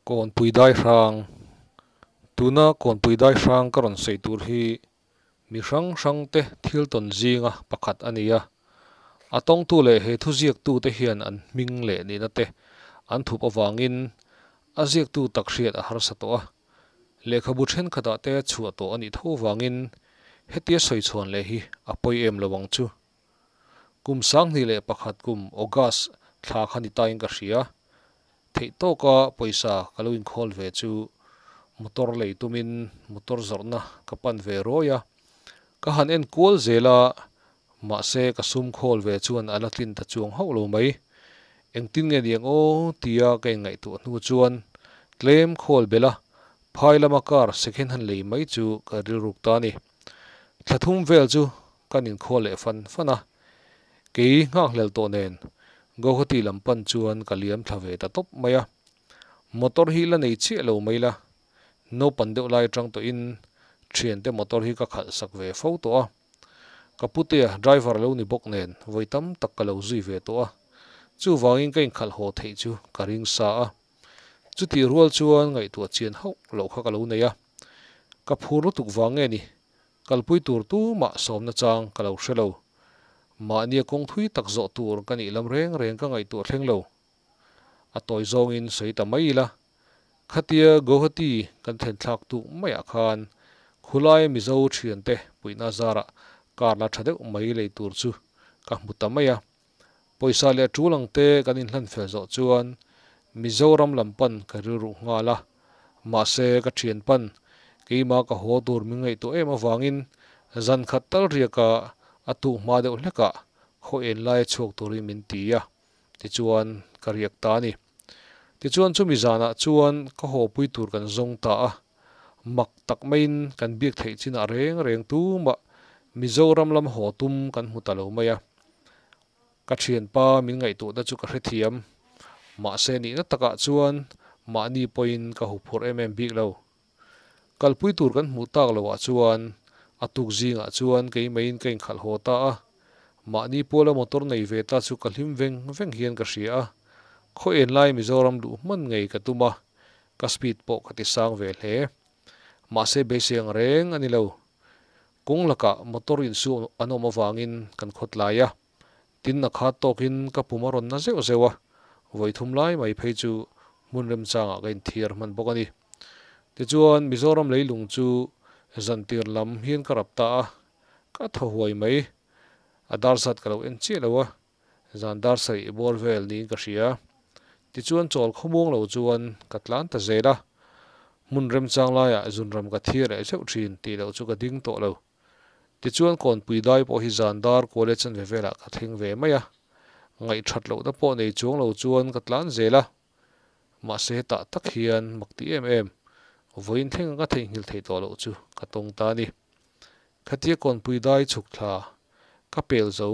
Kawnpui Daihrang, Tuna Kawnpui Daihrang ka rawn sawi tur hi mi hrang hrangte thil tawn zinga pakhat a ni a. A tawngtu leh he thu ziaktute hian an hming leh nihnate an thup avangin a ziaktu tak hriat a harsa tawh a. Lehkhabu thenkhatah te chhuah tawh a nih tho vangin hetia sawi chhuan leh hi a pawi em lo ang chu. Kum sanghnih leh pakhat kum August thla kha ni tain ka hria. Theih tawka pawisa ka lo inkhawl ve chu motor lei tumin motor zawrhna ka pan ve ruai a. Ka han en kual zel a, mahse ka sum khawl ve chuan a la tlin ta chuang hauh lo mai. Engtin nge ni ang aw tia ka inngaihtuah hnu chuan tlem khawl bela phai lama car second hand lei mai chu ka rilruk ta a ni. Thlathum vel chu Kan inkhual leh fan fan a, kei nghakhlel tawh nen Guwahati lam pan chuan ka liam thla ve ta tawp mai a. Motor hi la nei chiah lo mai la, naupan deuh lai atang tawhin thiante motor hi ka khalh sak ve fo tawh a. Ka putea driver lo ni bawk nen vawi tam tak ka lo zui ve tawh a, chuvangin ka inkhalh haw theih chu ka ring sa a. Chutih rual chuan ngaihtuah chian hauh loh kha ka lo nei a, ka phur lutuk vang nge ni? Kalpui tur tu mah sawmna chang ka lo hre lo. Mahnia kawng thui tak zawh tur ka nih lam reng reng ka ngaihtuah thleng lo. A tawi zawngin sawi ta mai ila, khatia Guwahati kan thlennthlak duh maiah khan khulai Mizo thiante puihna zarah karla tha deuh mai lei tur chu ka hmu ta mai a. Pawisa leh ṭul ang te kan inhlan fel zawh chuan Mizoram lam pan ka rilru nghal a, mahse ka ṭhian pan keimah ka haw tur min ngaihtuah em avangin zan khat tal riaka a tuh hma deuh hlekah khaw en lai a chhuak turin min ti a tichuan ka riak ta a ni. Tichuan chumi zanah chuan ka hawpui tur kan zawng ta a, mak tak maiin kan biak theih chinah reng reng tumah Mizoram lam haw tum kan hmu ta lo mai a. Ka thianpa min ngaihtuahna chu ka hrethiam, mahse nihna takah chuan mahni pawhin ka huphurh em em bik lo. Kalpui tur kan hmuh tak lo ah chuan a tuk zing ah chuan kei mai in ka in khalh haw ta a, mahni pawl a motor nei ve ta chu ka hlim veng veng hian ka hria a, khaw en lai Mizoram luh hman ngei ka tum a, ka speed pawh ka ti sang ve hle. Mahse beiseng reng a ni lo, kawng lakah motor in suh an awm avang in kan khawtlai a. Tin a khat tawkin ka pum a rawn na zeuh zeuh a, vawi thum lai mai phei chu hmun remchangah ka inthiar hman bawk a ni. Tichuan Mizoram leilung chu zantir lam hian ka rap ta a, ka thaw huai mai. A dar zat ka lo en chiah lo a, zan dar sarih buar vel niin ka hria. Tichuan chawl khawmuang lo chuan ka tlan ta zel a, hmun remchang laiah zunram ka thiar leh zeuh thin tih loh chu ka ding tawh lo. Tichuan Kawnpui dai pawh hi zan dar kual e chanve velah ka thleng ve mai a, ngaih that loh na pawh nei chuang lo chuan ka tlan zel a, mahse hetah tak hian mak ti em em, vawiin thleng anga theihnghilh theih tawh loh chu ka tawng ta ni. Khatia Kawnpui dai chhuk thla ka pel zo,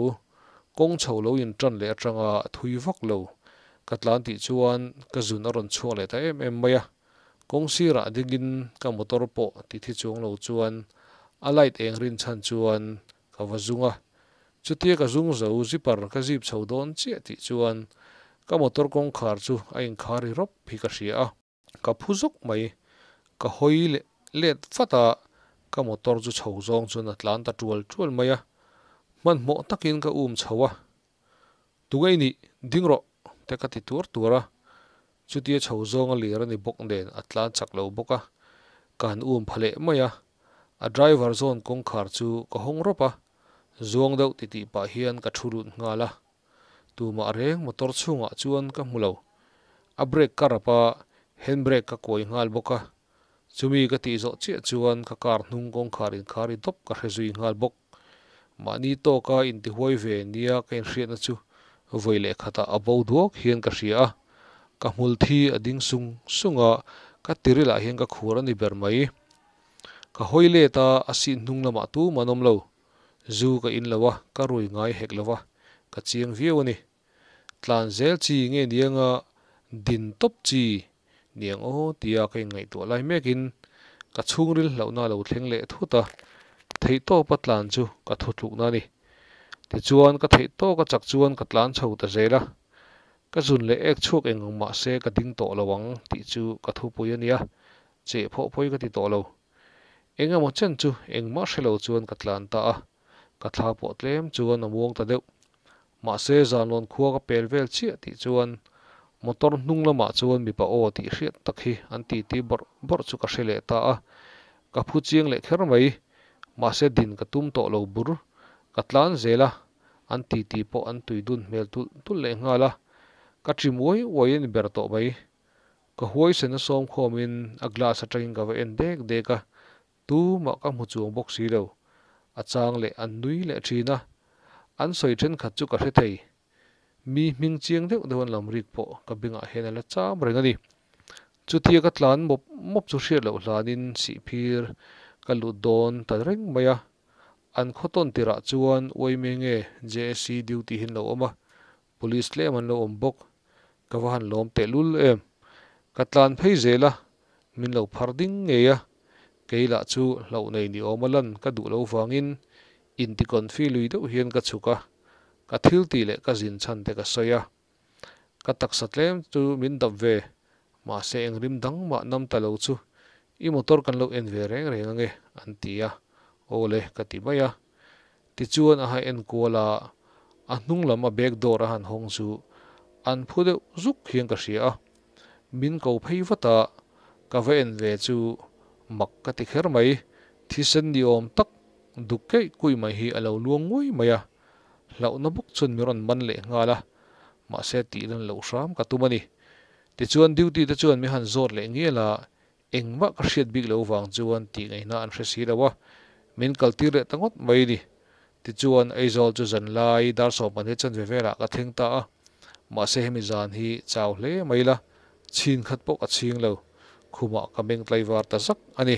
kawng chho lo in tan leh atanga a thui vak lo ka tlan tih chuan ka zun a rawn chhuak leh ta em em mai a, Kawng sirah dingin ka motor pawh titthi chuang lo chuan a light eng rin chhan chuan ka va zung a. Chutia ka zung zo zipper ka zip chho dawn chiah tih chuan ka motor kawngkhar chu a inkhar ri rawp hi ka hria a. Ka phu zawk mai, ka hawi leh let vat a, ka motor chu chho zawng chuan a tlan ta tual tual mai a. Hmanhmawh takin ka um chho a, Tunge i nih ding rawh te ka ti tur tur a, chuti a chho zawng a lir a ni bawk nen a tlan chak lo bawk a, ka han um pha leh mai a, a driver zawn kawngkhar chu ka hawng rawp a, zuang deuh ti tih pah hian ka thu lut nghal a, tumah reng motor chhungah chuan ka hmu lo, a brake ka rap a, handbrake ka kuai nghal bawk a, Chumi ka tih zawh chiah chuan ka car hnung kawngkhar in khar i dawp ka hre zui nghal bawk. Mahni tawk a in tihuai ve nia ka inhriatna chu vawi leh khatah a bo duak hian ka hria a. Ka hmul thi a ding sung sung a, ka tiril ah hian ka khur a ni ber mai. Ka hawi let a, a sih hnung lamah tum an awm lo. Zu ka in lo a, ka rui ngai hek lo va, ka chiang viau a ni. Tlan zel chi nge ni anga din tawp chi ni ang aw tia ka inngaihtuah lai mekin ka chhungril hlauhna a lo thleng leh thut a, theih tawpa tlan chu ka thu tlukna a ni. Tichuan ka theih tawk a chak chuan ka tlan chho ta zel a, ka zun leh ek chhuak eng ang mahse ka ding tawh lo ang tih chu ka thupui a nia, cheh phawh pawih ka ti tawh lo. Engemaw chen chu engmah hre lo chuan ka tlan ta a, ka thla pawh tlem chuan a muang ta deuh. Mahse zanluan khua ka pel vel chiah tih chuan motor hnung lamah chuan mipa aw tih hriat tak hi an titi bawrh bawrh chu ka hre leh ta a, ka phu chiang leh kher mai. Mahse din ka tum tawh lo bur ka tlan zel a, an titi pawh an tui dun hmel tulh tulh leh nghal a, ka ṭim uai uai a ni ber tawh mai. Ka huaisen a sawm khawmin a glass atangin ka va en dek dek a, Tu mah ka hmu chuang bawk si lo, a chang leh an nui leh thin a, an sawi thenkhat chu ka hre thei. Mi hming chiang deuh deuh an lam rik pawh ka bengah hian a la cham reng a ni. Chutia ka tlan mawp mawp chu hriat loh hlanin sihphir ka lut dawn ta reng mai a, an khaw tawn tirah chuan uaimenge JSC duty hi an lo awm a, Police tlem an lo awm bawk, ka va han lawm teh lul em. Ka tlan phei zel a, min lo phar ding ngei a, kei lah chu hloh nei ni awm a lan ka duh lo vangin intikawnfi lui deuh hian ka chhuk a, ka thiltih leh ka zin chhan te ka sawi a. Ka taksa tlem chu min dap ve, mahse eng rim dang mah nam ta lo chu, i motor kan lo en ve reng reng ange an ti a, awle ka ti mai a. Tichuan a han en kual a, a hnung lam a bag door a han hawng chu an phu deuh zuk hian ka hria a, min ko phei vat a, ka va en ve chu mak ka ti kher mai, thisen ni awm tak duk keih kuih mai hi a lo luang nguai mai a, hlauhna bawk chuan mi rawn man leh nghal a, mahse tih lan loh hram ka tum a ni. Tichuan duty te chuan mi han zawt leh ngial a, Engmah ka hriat bik lo vang chuan tih ngaihna an hre si lo a, min kaltir leh ta ngawt mai ni. Tichuan, Aizawl chu zan lai dar sawmpahnih a chanve velah ka thleng ta a, mahse hemi zan hi chau hle mai la, chhin khat pawh ka chhing lo, khumah ka meng tlaivar ta zak a ni.